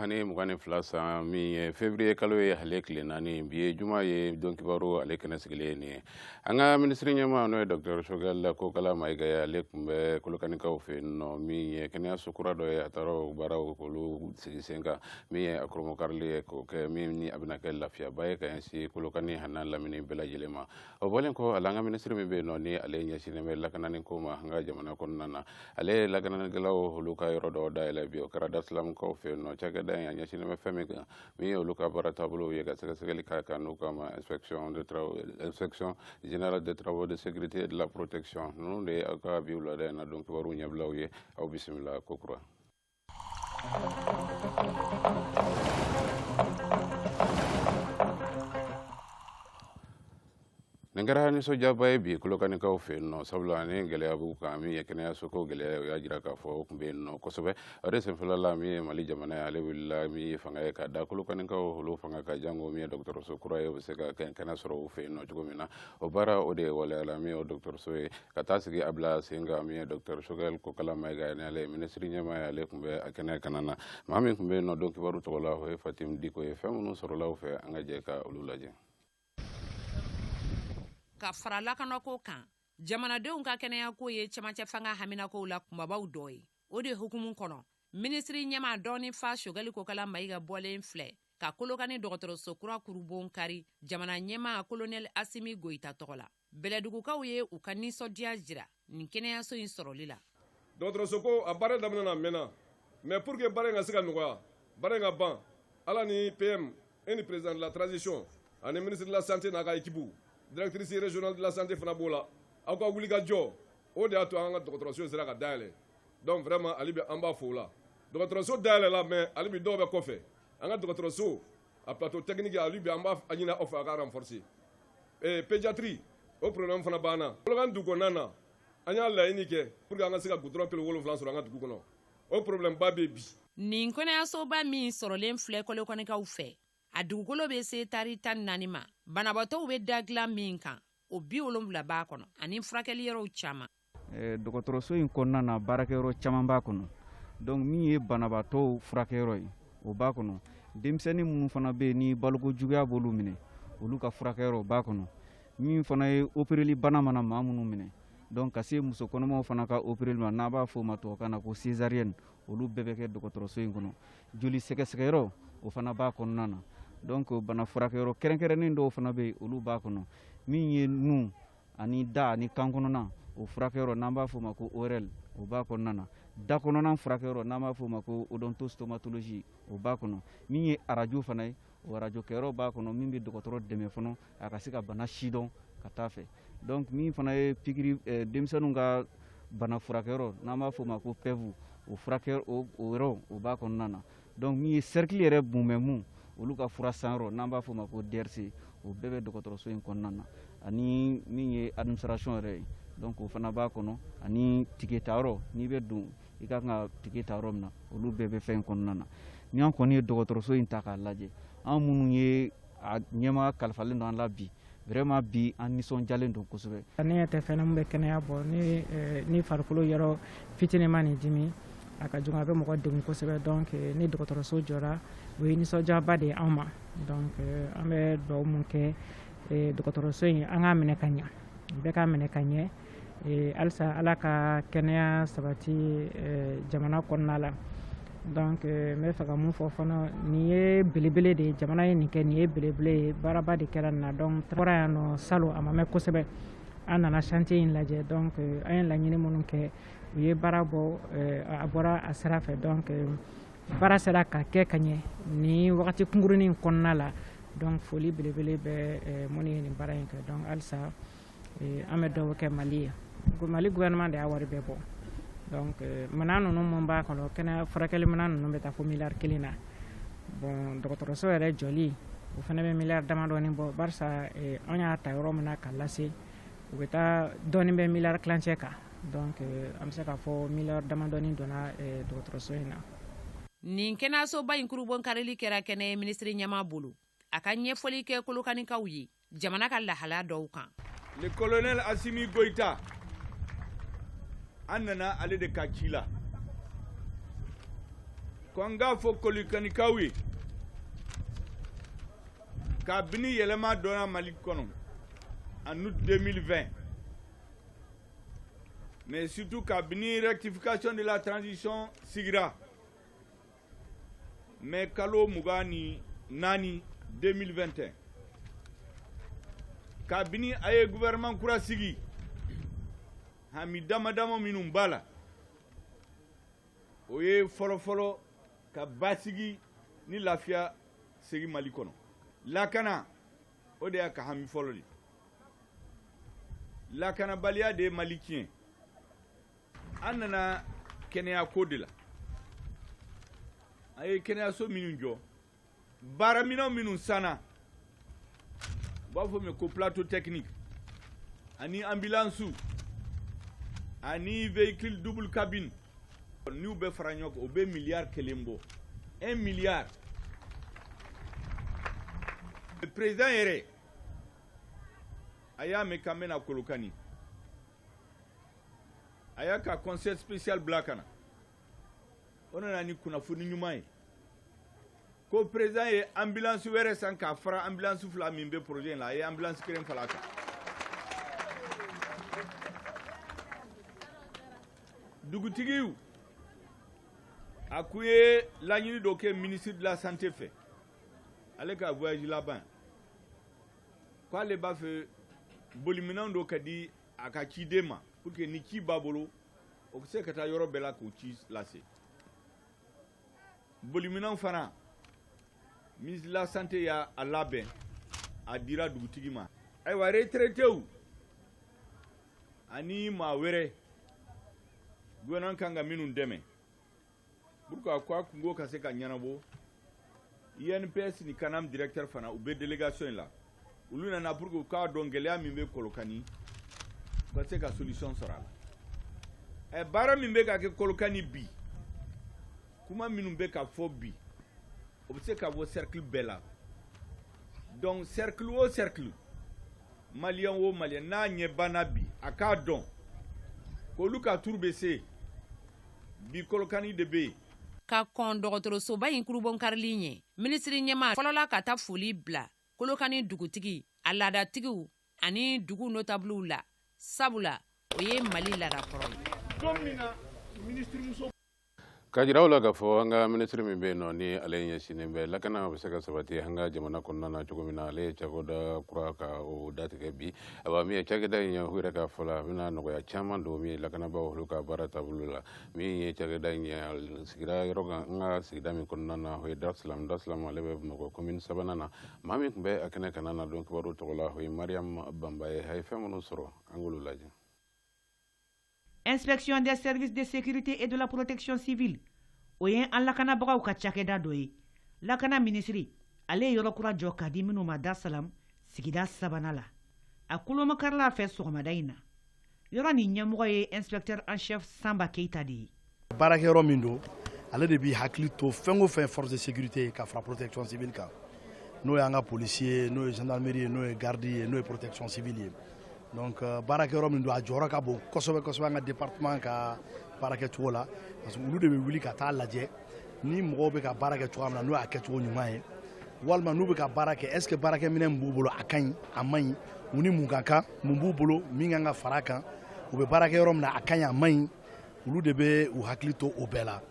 ani mugan ni fila san min ye fevrier kalo ye ale tile naani bi ye juma ye don kibaru ale kɛnɛ sigilen ye ni an ka minisiri ɲɛma n'o ye dɔktɛr sogɛl kokala mayiga ye ale tun bɛ kolokanikaw fɛ yen nɔ min ye kɛnɛyaso kura dɔ ye a taara o baaraw k'olu sigi sen kan min ye a kurubonkarili ye k'o kɛ min ni a bɛna kɛ lafiyaba ye ka ɲɛsin kolokani an'a lamini bɛɛ lajɛlen ma o bɔlen kɔ a la an ka minisiri min bɛ yen nɔ ni ale ɲɛsinnen bɛ lakanani ko ma an ka jamana kɔnɔna na ale ye lakananikɛlaw olu ka yɔrɔ dɔ dayɛlɛ bi o kɛra darsalamkaw fɛ yen nɔ cakɛda in a ɲɛsinnen bɛ fɛn min kan min ye olu ka baara taabolo ye ka sɛgɛsɛgɛli k'a kan n'u k'a ma inspection générale des travaux de sécurité et de la protection ninnu de ye aw ka bi wulada in na don kibaruw ɲɛbilaw ye aw bisimila ko kura Nin kɛra nisɔndiyaba ye bi kolokanikaw fɛ yen nɔ sabula ni gɛlɛya b'u kan min ye kɛnɛyaso ko gɛlɛya o y'a jira k'a fɔ o tun bɛ yen nɔ kosɛbɛ o de senfɛla la min ye mali jamana ye ale wulila min ye fanga ye ka da kolokanikaw olu fanga kan janko min ye dɔgɔtɔrɔso kura ye o bɛ se ka kɛnɛ sɔrɔ u fɛ yen nɔ cogo min na o baara o de waleyala min ye o dɔgɔtɔrɔso ye ka taa sigi a bila sen kan min ye dɔktɛr sogɛl kokala mayiga ni ale ye minisiri ɲɛma ye ale tun bɛ a kɛnɛ kanna na maa min tun bɛ yen nɔ don kibaru tɔgɔ la o ye fatim diko ye fɛn minnu sɔrɔla u fɛ an ka jɛ ka olu lajɛ ka fara lakanako kan jamanadenw ka kɛnɛyako ye cɛmancɛ fanga haminakow la kunbabaw dɔ ye o de hukumu kɔnɔ minisiri ɲɛma dɔnni fa sogɛli kokala mayiga bɔlen filɛ ka kolokani dɔgɔtɔrɔso kura kurubon kari jamana ɲɛma kolonɛli asimi goyita tɔgɔ la bɛlɛdugukaw ye u ka nisɔndiya jira nin kɛnɛyaso in sɔrɔli la dɔgɔtɔrɔsoko a baara daminɛna a mɛnna mais pour que baara in ka se ka nɔgɔya baara in ka ban ala ni pm ani président de la transition ani ministre de la santé n'a ka équipe directrice régionale de la santé fana b'o la aw ka wulikajɔ o de y'a to an ka dɔgɔtɔrɔso sera ka dayɛlɛ donc vraiment hali bi an b'a fo o la dɔgɔtɔrɔso dayɛlɛ la mais hali bi dɔw bɛ kɔfɛ an ka dɔgɔtɔrɔso a plateau technique hali bi an b'a ɲini aw fɛ a ka renforcer Ee pédiatrie o problème fana b'an na kolokani dugu kɔnɔna na an y'a laɲini kɛ pour que an ka se ka goudron kilo wolonwula sɔrɔ an ka dugu kɔnɔ o problème ba bɛ bi nin kɛnɛyasoba min sɔrɔlen filɛ kolokanikaw fɛ a dugukolo bɛ se taari tan ni naani ma banabaatɔw bɛ da dilan min kan o bi wolonwula b'a kɔnɔ ani furakɛli yɔrɔw caman eh, dɔgɔtɔrɔso in kɔnɔna na baarakɛyɔrɔ caman b'a kɔnɔ donc min ye banabaatɔw furakɛyɔrɔ ye o b'a kɔnɔ denmisɛnnin minnu fana bɛ yen ni baloko juguya b'olu minɛ olu ka furakɛyɔrɔ b'a kɔnɔ min fana ye opereli bana mana maa minnu minɛ donc ka se muso kɔnɔmaw fana ka opereli ma n'a b'a fɔ o ma tubabukan na ko césarienne olu bɛɛ bɛ kɛ dɔgɔtɔrɔso in kɔnɔ joli sɛgɛsɛgɛyɔrɔ o fana b'a kɔnɔna na donc bana furakɛyɔrɔ kɛrɛnkɛrɛnnen dɔw fana bɛ yen olu b'a kɔnɔ min ye nun ani da ani kan kɔnɔna o furakɛyɔrɔ n'an b'a fɔ o ma ko orl o b'a kɔnɔna na da kɔnɔna furakɛyɔrɔ n'an b'a fɔ o ma ko odontostomatologie o b'a kɔnɔ min ye arajo fana ye o arajo kɛyɔrɔ b'a kɔnɔ min bɛ dɔgɔtɔrɔ dɛmɛ fana a ka se ka bana sidɔn ka taa fɛ donc min fana ye pikiri eh, denmisɛnninw ka bana furakɛyɔrɔ n'an b'a fɔ o ma ko pev o furakɛ o yɔrɔ o b'a kɔnɔna na donc min ye sɛrikili yɛrɛ mumɛ olu ka fura sanyɔrɔ n'an b'a fɔ o ma ko drc o bɛɛ bɛ dɔgɔtɔrɔso in kɔnɔna na ani min ye administration yɛrɛ ye donc o fana b'a kɔnɔ ani tike tayɔrɔ n'i bɛ don i ka kan ka tike ta yɔrɔ min na olu bɛɛ bɛ fɛn in kɔnɔna na ni an kɔni ye dɔgɔtɔrɔso in ta k'a lajɛ an minnu ye a ɲɛma kalifalen don an la bi vraiment bi an nisɔndiyalen don kosɛbɛ ne ɲɛ tɛ fɛn min bɛ kɛnɛya bɔ ne eh, ni farikolo yɔrɔ fitinimanin dimi a ka jugu a bɛ mɔgɔ degun kosɛbɛ donc eh, ni dɔgɔtɔrɔso jɔra o ye nisɔndiyaba de ye anw ma donc eh, an bɛ dugawu mun kɛ dɔgɔtɔrɔso in an k'a minɛ ka ɲa bɛɛ k'a minɛ ka ɲɛ eh, halisa ala ka kɛnɛya sabati eh, jamana kɔnɔna la donc eh, n b'a fɛ ka min fɔ fana nin ye belebele de ye jamana ye nin kɛ nin ye belebele ye baaraba de kɛra nin na donc bɔra yan nɔ salon a ma mɛn kosɛbɛ an nana chantier in lajɛ donc an ye laɲini minnu kɛ u ye baara bɔ a bɔra a sira fɛ donc baara sera ka kɛ ka ɲɛ nin wagati kunkurunin kɔnɔna la donc foli belebele bɛ minnu ye nin baara in kɛ donc halisa an bɛ dugawu kɛ mali ye ko mali gouvernement de y'a wari bɛɛ bɔ donc minɛn ninnu minnu b'a kɔnɔ kɛnɛya furakɛli minɛn ninnu bɛ taa fo miliyari kelen na bon dɔgɔtɔrɔso yɛrɛ jɔli o fana bɛ miliyari damadɔ bɔ an y'a ta yɔrɔ min na k'a lase u bɛ taa dɔɔni bɛ miliyari tilancɛ kan an bɛ se k'a fɔ miliyari damadɔnin donna dɔgɔtɔrɔso in na nin kɛnɛyasoba in kurunbonkarili kɛra kɛnɛya minisiri ɲɛmaa bolo a ka ɲɛfɔli kɛ kolokanikaw ye jamana ka lahala dɔw kan le colonel asimi goita an nana ale de ka ci la ko an k'a fɔ kolokanikaw ye kabini yɛlɛma dɔnna mali kɔnɔ en août 2020 mais surtout kabini rectification de la transition sigira mɛ kalo mugan ni naani 2021 kabini a ye gouvernement kura sigi hami dama dama minnu b'a la o ye fɔlɔfɔlɔ ka basigi ni lafiya segi mali kɔnɔ lakana o de y'a ka hami fɔlɔ de lakanabaliya de ye mali tiɲɛ an nana kɛnɛya ko de la a ye kɛnɛyaso minnu jɔ baaraminɛn minnu sanna u b'a fɔ min ko plateau technique ani ambulance ani véhicule double cabine n'u bɛ fara ɲɔgɔn kan o bɛ miliyari kelen bɔ un milliard président yɛrɛ a y'a mɛn k'an bɛna kolokani a y'a ka conseiller spécial bila ka na o nana ni kunnafoni ɲuman ye ko président ye ambulance wɛrɛ san k'a fara ambulance fila min bɛ projet in la a ye ambulance kelen fara a kan dugutigi a kun ye laɲini dɔ kɛ ministre de la santé fɛ ale ka voyage laban na k' ale b'a fɛ boliminɛn dɔ ka di a ka ciden ma pour que ni ci b'a bolo o bɛ se ka taa yɔrɔ bɛɛ la k'o ci lase boliminɛn fana ministre de la santé y'a labɛn a dira dugutigi ma ayiwa retraitéw ani maa wɛrɛ gouvernement kan ka minnu dɛmɛ Pour que a ko a kunko ka se ka ɲɛnabɔ INPS ni CANAM directeur fana u bɛ délégation in la olu nana pour que u k'a dɔn gɛlɛya min bɛ Kolokani u ka se ka solution sɔrɔ a la ɛ baara min bɛ ka kɛ Kolokani bi kuma minnu bɛ ka fɔ bi o bɛ se ka bɔ cercle bɛɛ la donc cercle o cercle maliyɛn o maliyɛn n'a ɲɛ b'an na bi a k'a dɔn k'olu ka tour bɛ se bi kɔlɔkani de bɛ yen ka kɔn dɔgɔtɔrɔsoba in kurubonkarili ɲɛ minisiri ɲɛmaa fɔlɔla ka taa foli bila kolokani dugutigi a laadatigiw ani dugu notabuliw la sabula o ye mali laada kɔrɔ ye k'a jira aw la k'a fɔ an ka minisiri min bɛ yen nɔ ni ale ɲɛsinnen bɛ lakana bɛ se ka sabati an ka jamana kɔnɔna na cogo min na ale ye cakɛda kura ka o datigɛ bi Awa min ye cakɛda in ye u yɛrɛ ka fɔ la a bɛna nɔgɔya caman don min ye lakanabaaw olu ka baara taabolo la min ye cakɛda in ye sigira yɔrɔ kan an ka sigida min kɔnɔna na o ye Dar Salam Dar Salam ale bɛ Bamakɔ commune sabanan na maa min tun bɛ a kɛnɛ kanna na don kibaru tɔgɔ la o ye Mariam Bamba ye a ye fɛn minnu sɔrɔ an k'olu lajɛ Inspection des services de sécurité et de la protection civile o ye an lakanabagaw ka cakɛda dɔ ye lakana minisiri ale ye yɔrɔ kura jɔ k'a di minnu ma Dar Salam sigida sabanan la a kurubonkarila fɛ sɔgɔmada in na yɔrɔ nin ɲɛmɔgɔ ye inspecteur en chef Samba Keyita de ye baarakɛ yɔrɔ min don ale de b'i hakili to fɛn o fɛn force de sécurité ye ka fara protection civile kan n'o y'an ka polisi ye n'o ye gendarmerie ye n'o ye garde ye n'o ye protection civile ye donc euh, baarakɛ yɔrɔ min don a jɔyɔrɔ ka bon kosɛbɛ kosɛbɛ an ka département ka baarakɛ cogo la parce que olu de bɛ wuli ka taa lajɛ ni mɔgɔw bɛ ka baara kɛ cogoya min na n'o y'a kɛcogo ɲuman ye walima n'u bɛ ka baara kɛ est ce que baarakɛminɛn min b'u bolo a ka ɲi a man ɲi u ni mun ka kan mun b'u bolo min kan ka fara a kan u bɛ baara kɛ yɔrɔ min na a ka ɲi a man ɲi olu de bɛ u hakili to o bɛɛ la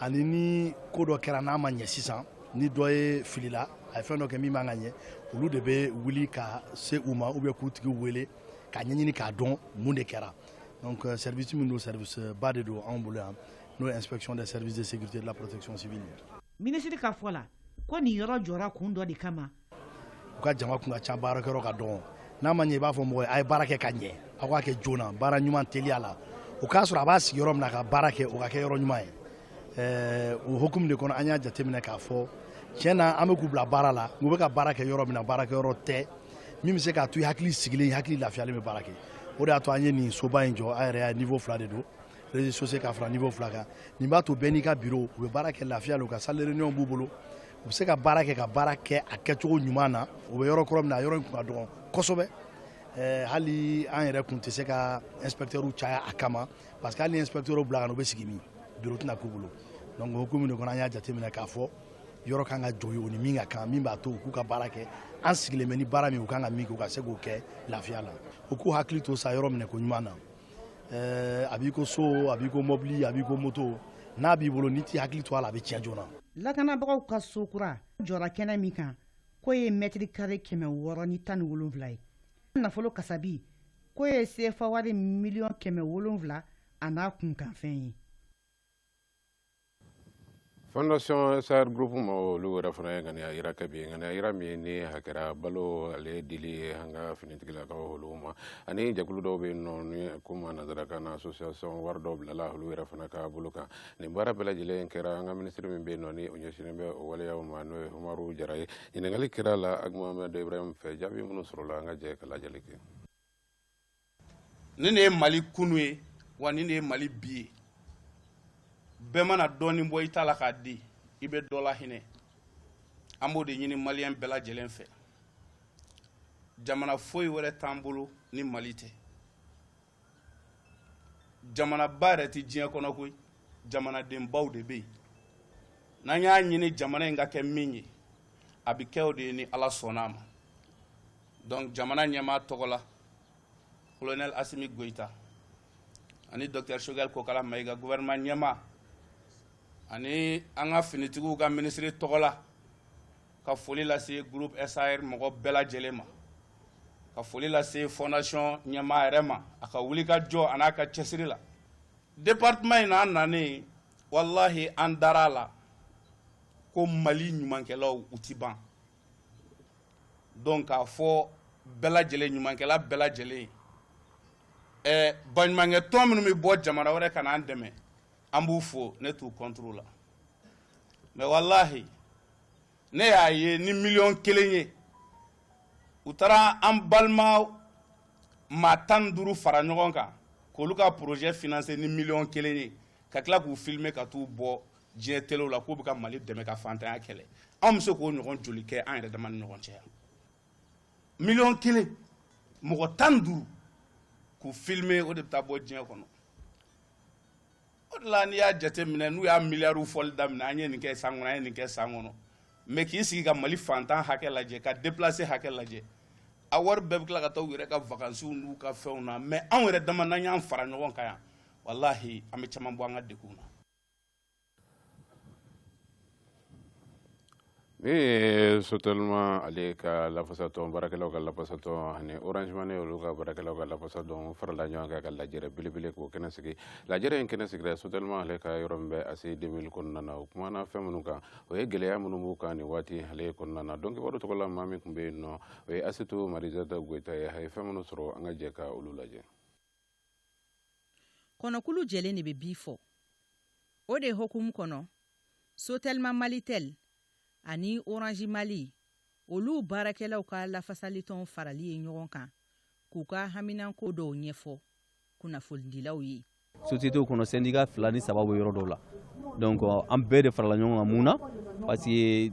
ani ni ko dɔ kɛra n'a ma ɲɛ sisan ni dɔ ye filila a ye fɛn dɔ kɛ min man ka ɲɛ olu de bɛ wuli ka se u ma ou bien k'u tigi wele k'a ɲɛɲini k'a dɔn mun de kɛra donc euh, service min don service euh, ba de don anw bolo yan n'o ye inspection des services de sécurité de la protection civile minisiri ka fɔ la ko nin yɔrɔ jɔra kun dɔ de kama u ka jama kun ka ca baarakɛyɔrɔ ka dɔgɔn n'a ma ɲɛ i b'a fɔ mɔgɔ ye a ye baara kɛ ka ɲɛ aw k'a kɛ joona baara ɲuman teliya la o k'a sɔrɔ a b'a sigi yɔrɔ min na ka baara kɛ o ka kɛ yɔrɔ ɲuman ye ɛɛ o hukumu de kɔnɔ an y'a jateminɛ k'a fɔ tiɲɛ na an bɛ k'u bila baara la u bɛ ka baara kɛ yɔrɔ min na baarakɛ yɔrɔ tɛ min bɛ se k'a to i hakili sigilen i hakili lafiyalen bɛ baara kɛ o de y'a to an ye nin soba in jɔ an yɛrɛ y'a niveau fila de don rez-de-chaussée ka fara niveau fila kan nin b'a to bɛɛ n'i ka bureau u bɛ baara kɛ lafiya la u ka salle de réunion b'u bolo u bɛ se ka baara kɛ ka baara kɛ a kɛcogo ɲuman na u bɛ yɔrɔ kɔrɔ min na yɔrɔ in kun ka dɔgɔn kosɛbɛ hali an yɛrɛ kun tɛ se ka inspecteurs caya a kama parce que hali ni inspecteurs bila ka na u bɛ sigi min bureau tɛna k'u bolo donc o hukumu de kɔnɔ an y'a jateminɛ k'a fɔ yɔrɔ kan ka jɔ u ni min ka kan min b'a to u k'u ka baara kɛ an sigilen bɛ ni baara min u kan ka min kɛ u ka se k'o kɛ lafiya la u k'u hakili to sa yɔrɔ minɛko ɲuman na a b'i ko so a b'i ko mɔbili a b'i ko moto n'a b'i bolo n'i t'i hakili to a la a bɛ tiɲɛ joona lakanabagaw ka so kura jɔra kɛnɛ min kan k'o ye mɛtiri kare kɛmɛ wɔɔrɔ ni tan ni wolonwula ye nafolo kasabi k'o ye sefa wari miliyɔn kɛmɛ wolonwula an'a kunkanfɛn ye fondation saer groupe ma olu yɛrɛ fana ye ŋaniya yira kɛ bi ŋaniya yira min ni a kɛra balo ale dili ye an ka finitigilakaw olu ma ani jɛkulu dɔw bɛ yen nɔ ni ko ma nansarakan na association wari dɔw bilala olu yɛrɛ fana ka bolo kan nin baara bɛɛ lajɛlen kɛra an ka minisiri min bɛ yen nɔ ni o ɲɛsinnen bɛ o waleyaw ma n'o ye umaru jara ye ɲininkali kɛra a la agmamɛdɔ ibrahim fɛ jaabi minnu sɔrɔla an ka jɛ ka lajɛli kɛ nin de ye mali kunun ye wa nin de ye mali bi ye bɛɛ mana dɔɔnin bɔ i ta la k'a di i bɛ dɔ lahinɛ an b'o de ɲini maliyɛn bɛɛ lajɛlen fɛ jamana foyi wɛrɛ t'an bolo ni mali tɛ jamanaba yɛrɛ tɛ diɲɛ kɔnɔ koyi jamanadenbaw de bɛ yen n'an y'a ɲini jamana in ka kɛ min ye a bɛ kɛ o de ye ni ala sɔnna a ma donc jamana ɲɛmaa tɔgɔ la colonel asimi goyita ani docteur choguel kokala mayiga gouvernement ɲɛmaa ani an ka finitigiw ka minisiri tɔgɔ la ka foli lase groupe sar mɔgɔ bɛɛ lajɛlen ma ka foli lase fondation ɲɛmaa yɛrɛ ma a ka wuli ka jɔ a n'a ka cɛsiri la département in na an nanen walahi an dara a la ko mali ɲumankɛlaw u tɛ ban donc k'a fɔ bɛɛ lajɛlen ɲumankɛla bɛɛ lajɛlen ɛ baɲumankɛ tɔn minnu bɛ bɔ jamana wɛrɛ ka n'an dɛmɛ an b'u fo ne t'u contre la mais walahi ne y'a ye ni miliyɔn kelen ye u taara an balima maa tan ni duuru fara ɲɔgɔn kan k'olu ka projet financer ni miliyɔn kelen ye ka tila k'u filmer ka t'u bɔ diɲɛ telew la k'u bɛ ka mali dɛmɛ ka fantanya kɛlɛ anw bɛ se k'o ɲɔgɔn joli kɛ an yɛrɛ dama ni ɲɔgɔn cɛ yan miliyɔn kelen mɔgɔ tan duuru k'u filmer o de bɛ taa bɔ diɲɛ kɔnɔ o de la n'i y'a jate minɛ n'u y'a miliyariw fɔli daminɛ an ye nin kɛ san kɔnɔ an ye nin kɛ san kɔnɔ mais k'i sigi ka mali fantan hakɛ lajɛ ka déplacé hakɛ lajɛ a wari bɛɛ bɛ tila ka taa u yɛrɛ ka vakansiw n'u ka fɛnw na mais anw yɛrɛ dama n'an y'an fara ɲɔgɔn kan yan walahi an bɛ caman bɔ an ka degun na min ye sotelima ale ka lafasatɔn baarakɛlaw ka lafasatɔn ani orange mali olu ka baarakɛlaw ka lafasatɔn farala ɲɔgɔn kan ka lajɛrɛ belebele k'o kɛnɛ sigi lajɛrɛ in kɛnɛ sigira sotelima ale ka yɔrɔ min bɛ aci 2000 kɔnɔna na o kumana fɛn minnu kan o ye gɛlɛya minnu b'u kan nin waati ale kɔnɔna na donc kibaru tɔgɔ la maa min tun bɛ yen nɔ o ye asitu marizata goyita ye a ye fɛn minnu sɔrɔ an ka jɛ ka olu lajɛ kɔnɔkulu jɛlen de bɛ bii fɔ o de hukumu kɔnɔ sotelima malitɛli ani oranzi mali olu baarakɛlaw ka lafasalitɔn farali ye ɲɔgɔn kan k'u ka haminanko dɔw ɲɛfɔ kunnafonidilaw ye sosiyetew kɔnɔ sendika fila ni saba bɛ yɔrɔ dɔw la donc an bɛɛ de farala ɲɔgɔn kan mun na parce que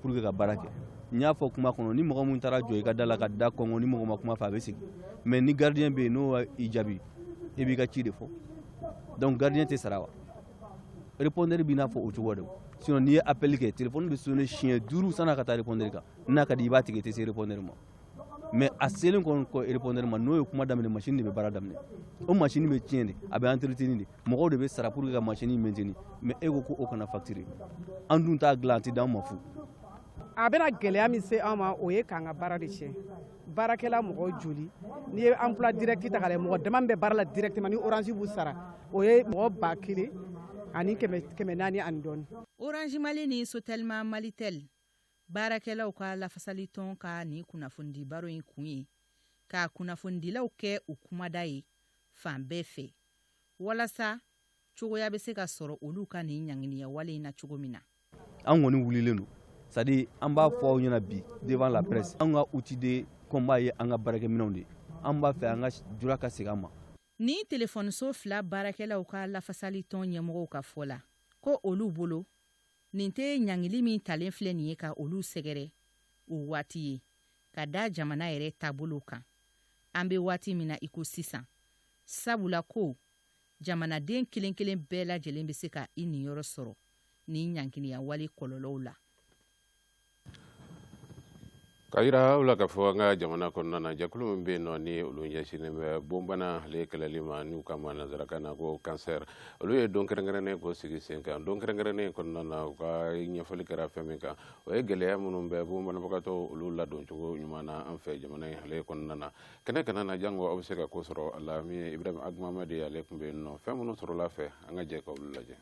pour que ka baara kɛ n y'a fɔ kuma kɔnɔ ni mɔgɔ min taara jɔ i ka da la ka da kɔnkɔn ni mɔgɔ ma kuma fɛ a bɛ segin mais ni gardien bɛ yen n'o i jaabi i b'i ka ci de fɔ donc gardien tɛ sara wa répondeur b'i n'a fɔ o cogo de sinon n'i ye appel kɛ téléphone bɛ sonner siɲɛ duuru san'a ka taa répondeur kan n'a ka di i b'a tigɛ i tɛ se répondeur ma mais a selen kɔni kɔ répondeur ma n'o ye kuma daminɛ masini de bɛ baara daminɛ o masini bɛ tiɲɛ de a bɛ entretenir de mɔgɔw de bɛ sara pour que ka masini maintenir mais e ko ko o kana facturer an dun t'a dilan a tɛ d'an ma fu a bɛna gɛlɛya min se an ma o ye k'an ka baara de tiɲɛ baarakɛla mɔgɔ joli n'i ye emploi direct ta k'a lajɛ mɔgɔ dama min bɛ baara la directement ni orange b'u sara o ye mɔgɔ ba kelen ani kɛmɛ naani ani dɔɔni orange mali ni sotelima malitɛli baarakɛlaw ka lafasali tɔn ka nin kunnafonidi baro in kun ye ka kunnafonidilaw kɛ u kumada ye fan bɛɛ fɛ walasa cogoya bɛ se ka sɔrɔ olu ka nin ɲangiliya wale in na cogo min na an kɔni wulilen don c'est-à-dire an b'a fɔ aw ɲɛna bi devant la presse an ka outil de combat ye an ka baarakɛminɛnw de an b'a fɛ an ka droit ka segin an ma ni telefɔniso fila baarakɛlaw ka lafasali tɔn ɲɛmɔgɔw ka fɔ la ko olu bolo Nin tɛ ɲangili min talen filɛ nin ye ka olu sɛgɛrɛ o waati ye ka da jamana yɛrɛ taabolo kan an bɛ waati min na iko sisan sabula ko jamanaden kelen kelen bɛɛ lajɛlen bɛ se ka i niyɔrɔ sɔrɔ ni ɲangiliya wale kɔlɔlɔw la Ka jira aw la k'a fɔ an ka jamana kɔnɔna na jɛkulu min bɛ yen nɔ ni olu ɲɛsinnen bɛ bonbana ale kɛlɛli ma n'u k'a ma nansarakan na ko kansɛri olu ye don kɛrɛnkɛrɛnnen k'o sigi sen kan don kɛrɛnkɛrɛnnen kɔnɔna na u ka ɲɛfɔli kɛra fɛn min kan o ye gɛlɛya minnu bɛ bonbanabagatɔ olu ladon cogo ɲuman na an fɛ jamana in ale kɔnɔna na kɛnɛ kana na jango aw bɛ se ka ko sɔrɔ a la min ye Ibrahima Agumamadi ale tun bɛ yen nɔ fɛn minnu sɔrɔla a fɛ an ka jɛ ka olu lajɛ.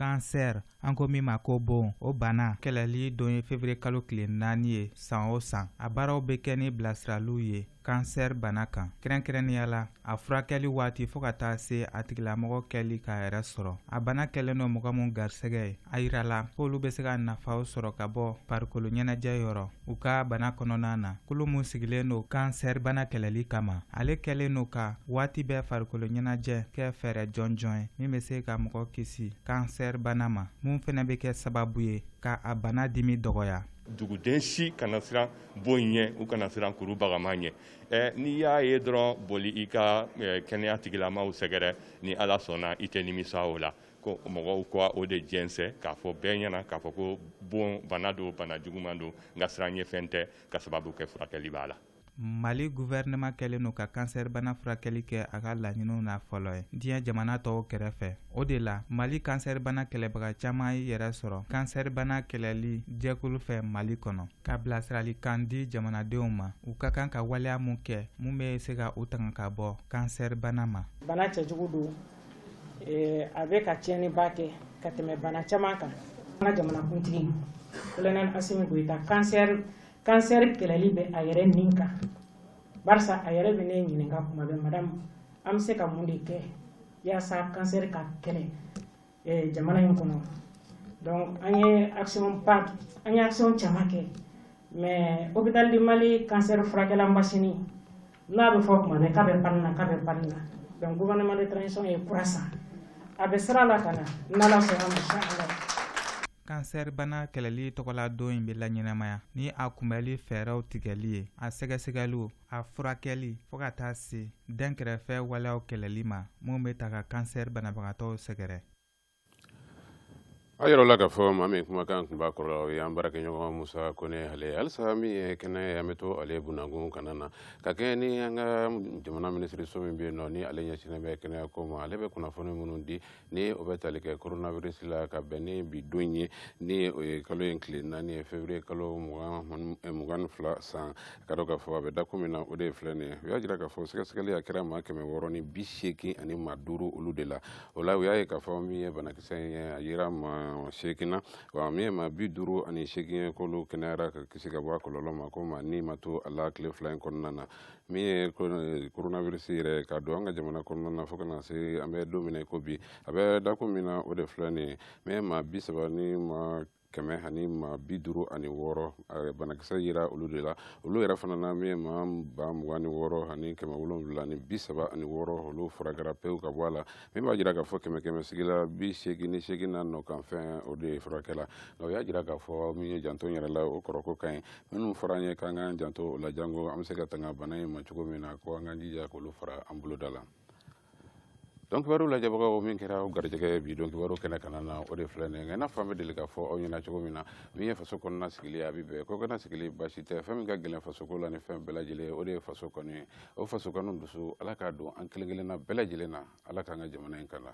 kansɛr an ko min ma ko bon o bana kɛlɛli don ye février kalo tile naani ye san o san a baaraw bɛ kɛ ni bilasiraliw ye kansɛr bana kan kɛrɛnkɛrɛnnenya la a furakɛli waati fɔɔ ka taa se a tigilamɔgɔ kɛli k'a yɛrɛ sɔrɔ a bana kɛlen don mɔgɔ min garisɛgɛ ye a yirala k'olu bɛ se ka nafaw sɔrɔ ka bɔ farikolo ɲɛnajɛ yɔrɔ u ka bana kɔnɔna na kulu min sigilen don kansɛribana kɛlɛli kama ale kɛlen don ka waati bɛɛ farikolo ɲɛnajɛ kɛ fɛɛrɛ jɔnjɔn ye min bɛ se ka mɔgɔ kisi kansɛribana ma mun fana bɛ kɛ sababu ye ka a bana dimi dɔgɔya duguden si kana siran bon ɲɛ u kana siran kuru bagama ɲɛ eh, n'i y'a ye dɔrɔn boli i ka eh, kɛnɛya tigilamaw sɛgɛrɛ ni ala sɔnna i tɛ nimisa o la ko mɔgɔw ka o de jɛnsɛn k'a fɔ bɛɛ ɲɛna k'a fɔ ko bon bana don bana juguman don nka siran ɲɛ fɛn tɛ k'a sababu kɛ furakɛli b'a la mali guvɛrɛnɛma kɛlen don ka kansɛribana furakɛli kɛ a ka laɲiniw na fɔlɔ ye diɲɛ jamana tɔw kɛrɛfɛ o de la mali kansɛribana kɛlɛbaga caman ye yɛrɛ sɔrɔ kansɛribana kɛlɛli jɛkulu fɛ mali kɔnɔ ka bilasiralikan di jamanadenw ma u ka kan ka waleya mun kɛ mun bɛ se ka u tanga ka bɔ kansɛribana ma bana cɛjugu don a bɛ ka tiɲɛniba kɛ ka tɛmɛ bana caman kan an ka jamanakuntigi Colonel Assimi Goïta kansɛri kɛlɛli bɛ a yɛrɛ nin kan barisa a yɛrɛ bɛ ne ɲininka kuma bɛɛ madame an bɛ se ka mun de kɛ yaasa kansɛri ka kɛlɛ jamana in kɔnɔ donc an ye an ye action caman kɛ mais hôpital du mali kansɛri furakɛla mas n'a bɛ fɔ tuma bɛɛ k'a bɛ panne na k'a bɛ panne na donc gouvernement de transition ye kura san a bɛ sira la ka na n'ala sɔnna ma inchallah kansɛri bana kɛlɛli tɔgɔla don in bɛ laɲɛnamaya ni a kunbɛli fɛɛrɛw tigɛli ye a sɛgɛsɛgɛliw a furakɛli fo ka taa se dɛnkɛrɛfɛ waleyaw kɛlɛli ma minw bɛ ta ka kansɛri banabagatɔw sɛgɛrɛ A yɔrɔ la k'a fɔ maa min kumakan tun b'a kɔrɔ o ye an baarakɛɲɔgɔn musa kone ale halisa min ye kɛnɛ an bɛ to ale dakun kana na ka kɛ ni an ka jamana minisiriso min bɛ yen nɔ ni ale ɲɛsinnen bɛ kɛnɛya ko ma ale bɛ kunnafoni minnu di ni o bɛ tali kɛ koronabirisi la ka bɛn ni bi don ye ni o ye kalo in tile naani ye février kalo mugan ni fila san ka dɔn k'a fɔ a bɛ dakun min na o de ye filɛ nin ye u y'a jira k'a fɔ sɛgɛsɛgɛli a kɛra maa kɛmɛ wɔɔrɔ ni bi seegin ani maa duuru olu de la o la u y'a ye k'a fɔ min ye banakisɛ in ye a yera maa seegin na wa min ye maa bi duuru ani seegin ye k'olu kɛnɛyara ka kisi ka bɔ a kɔlɔlɔ ma ko maa ni ma to a la tile fila in kɔnɔna na min ye coronavirus yɛrɛ ka don an ka jamana kɔnɔna na fo ka na se an bɛ don min na i ko bi a bɛ dakun min na o de filɛ nin ye min ye maa bi saba ni maa kɛmɛ ani maa bi duuru ani wɔɔrɔ banakisɛ yera olu de la olu yɛrɛ fana na min ye maa ba mugan ni wɔɔrɔ ani kɛmɛ wolonwula ni bi saba ani wɔɔrɔ olu furakɛra pewu ka bɔ a la min b'a jira k'a fɔ kɛmɛ kɛmɛ sigi la bi seegin ni seegin na nɔ kan fɛn o de ye furakɛla nka o y'a jira k'a fɔ min ye janto yɛrɛ la o kɔrɔ ko ka ɲi minnu fɔra an ye k'an k'an janto o la janko an bɛ se ka tanga bana in ma cogo min na ko an k'an jija k'olu fara an boloda la don kibaru lajɛbagaw min kɛra aw garijɛgɛ ye bi don kibaru kɛnɛ kana na o de filɛ nin ye i n'a fɔ an bɛ deli k'a fɔ aw ɲɛna cogo min na min ye faso kɔnɔna sigili a bɛ bɛn ko kana sigili baasi tɛ fɛn min ka gɛlɛn fasoko la ni fɛn bɛɛ lajɛlen o de ye faso kanu ye o faso kanu dusu ala k'a don an kelen kelenna bɛɛ lajɛlen na ala k'an ka jamana in kala